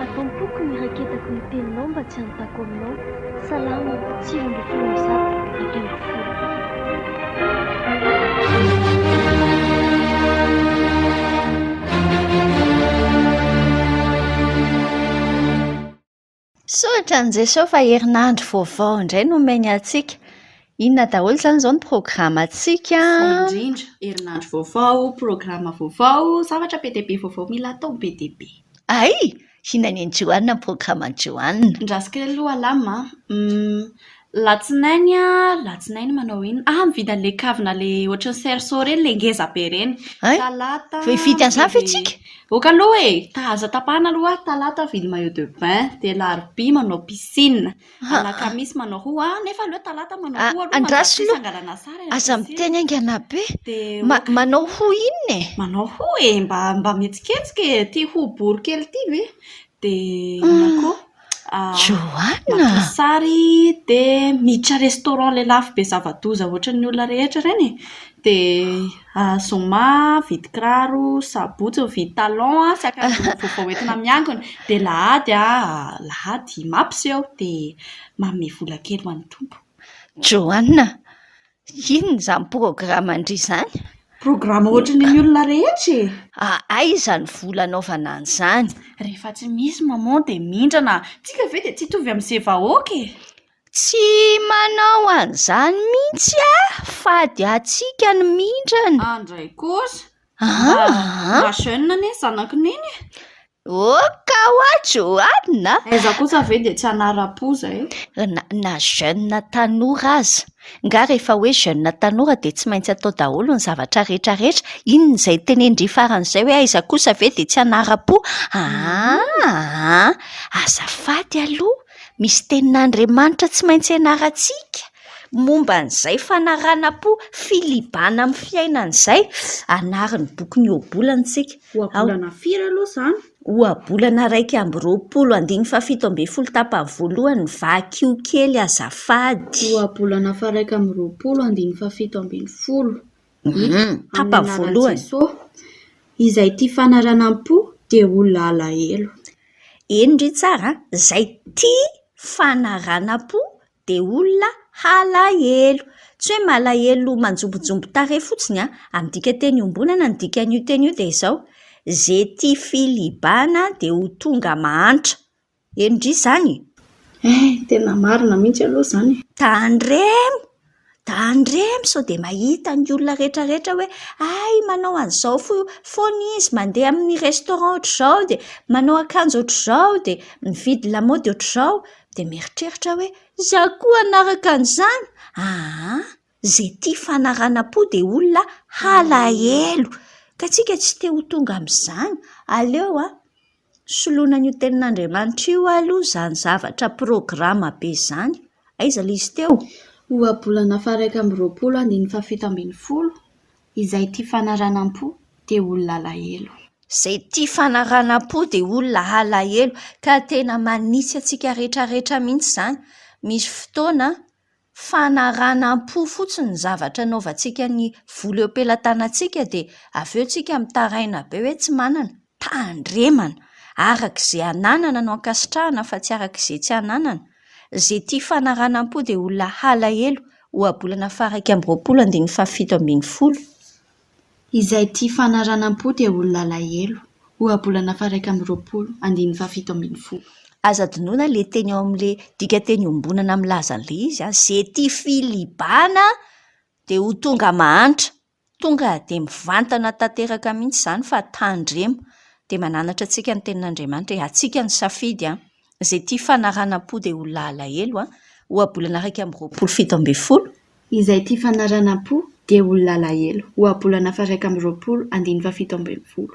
Atao am-poko ny raketako ny teninao mba tsy hanontako aminao. Salamo, sivy ambin'ny folo amby zato, dimy ambin'ny folo. Misaotra an'i Jesoa fa herinandro vaovao indray no omeny antsika. Inona daholo izany izao ny programantsika? Izay indrindra, herinandro vaovao, programa vaovao, zavatra be dia be vaovao mila atao be dia be. Hay! Inona ny an'i Joanne amin'ny programan'i Joanne? Ny rasikely aloha alama an! Latsinainy an, latsinainy manao inona? Ah, mividy an'ilay kavina ilay ohatran'ny cerceau ireny ilay ngeza be ireny. Hay, Talata vao hividy an'izany ve mividy- isika? Ok aloha e! ta aza tapahana aloha aho, talata aho mividy maillot de bain, dia alarobia manao piscine, Ha. alakamisy manao ho ah, nefa aleo talata manao Ah, ho aloha andraso manjary tsy aloha. hangalana sary any Aza piscine. miteny haingana be. Dia Ma- ok. manao ho inona e? Manao ho e, mba mba mihetsiketsika e, ity ho bory kely ity ve? Dia inona koa? Johanna! Maka sary dia miditra restaurant ilay lafo be zava-doza ohatran'ny olona rehetra ireny e. Dia zoma mividy kiraro, sabotsy mividy talon sy akanjo vaovao hoentina miangona. Dia alahady alahady mampiseho dia manome vola kely ho an'ny Tompo. Johanna! Inona izany programan-dry izany? Programa ohatra ny an'ny olona rehetra e! Aiza ny vola anaovana an'izany? Rehefa tsy misy maman dia mindrana. Tsika ve dia tsy hitovy amin'izay vahoaka e! Tsy manao an'izany mihitsy aho, fady antsika ny mindrana. Andray kosa, Ah, Mba jeune anie ny zanaky neny e! Oka wa Johanna! Aiza kosa ve dia tsy hanara-po izay? Na, na jeune tanora aza. Nga rehefa hoe jeune tanora dia tsy maintsy atao daholo ny zavatra rehetra rehetra? Inona izay tenen-dry faran'izay hoe aiza kosa ve dia tsy hanara-po? Ah, ah, ah! Azafady aloha! Misy tenin'Andriamanitra tsy maintsy ianarantsika momba an'izay fanaranam-po filibana amin'ny fiainana izay. Anarin'ny boky ny ohabolana isika. Ohabolana firy aloha izany? Ohabolana iraika amby roapolo, andininy fahafito ambin'ny folo tapany voalohany, vakio kely azafady. Ohabolana faha iraika amby roapolo, andininy fahafito ambin'ny folo. Ny Papa voalohany. Izay tia fanaranam-po dia olona alahelo. Eny ry tsara a! Izay tia fanaranam-po dia olona halahelo. Tsy hoe malahelo manjombonjombo tarehy fotsiny an! Amin'ny dikanteny iombonana ny dikan'io teny io dia izao, ze tia filibana dia ho tonga mahantra. Eny ndry izany e! Eh! Tena marina mihitsy aloha izany e! Tandremo! Tandremo sao dia mahita ny olona rehetrarehetra hoe hay manao an'izao foana izy, mandeha amin'ny restaurant ohatr'izao, dia manao akanjo ohatr'izao, dia mividy lamaody ohatr'izao, dia mieritreritra aho hoe izaho koa hanaraka an'izany? Aa! Izay tia fanaranam-po dia olona halahelo, ka isika tsy te ho tonga amin'izany, aleo an! Soloina an'io tenin'Andriamanitra io aloha izany zavatra programa be izany. Aiza ilay izy teo? Ohabolana faha-iraika amby roapolo andininy fahafito ambin'ny folo Izay tia fanaranam-po dia olona alahelo. Izay tia fanaranam-po dia olona alahelo. Ka tena manitsy antsika rehetra rehetra mihitsy izany. Misy fotoana. fanaranam-po fotsiny ny zavatra anaovantsika ny vola eo am-pelatanantsika dia avy eo tsika mitaraina be hoe tsy manana, tandremana, araka izay ananana no ankasitrahana fa tsy araka izay tsy ananana, izay tia fanaranam-po dia olona halahelo, ohabolana faha iraika amby roapolo andininy fahafito ambin'ny folo. Izay tia fanaranam-po dia olona alahelo. Ohabolana faharaika amby roapolo, andininy fahafito ambin'ny folo. Aza adinoina ilay teny ao amin'ilay dikanteny iombonana milaza an'ilay izy an! Izay tia filibana dia ho tonga mahantra. Tonga dia mivantana tanteraka mihitsy izany fa tandremo. Dia mananatra antsika ny Tenin'Andriamanitra hoe antsika ny safidy an! izay tia fanaranam-po dia olona alahelo an! ohabolana iraika amby roapolo fito ambin'ny folo. Izay tia fanaranam-po dia olona alahelo, ohabolana faha-iraika amby roapolo andiny fahafito ambin'ny folo.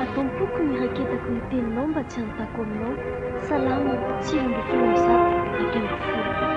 Atao am-poko ny raketako ny teninao mba tsy hanontako aminao. Salamo, sivy ambin'ny folo amby zato, dimy ambin'ny folo.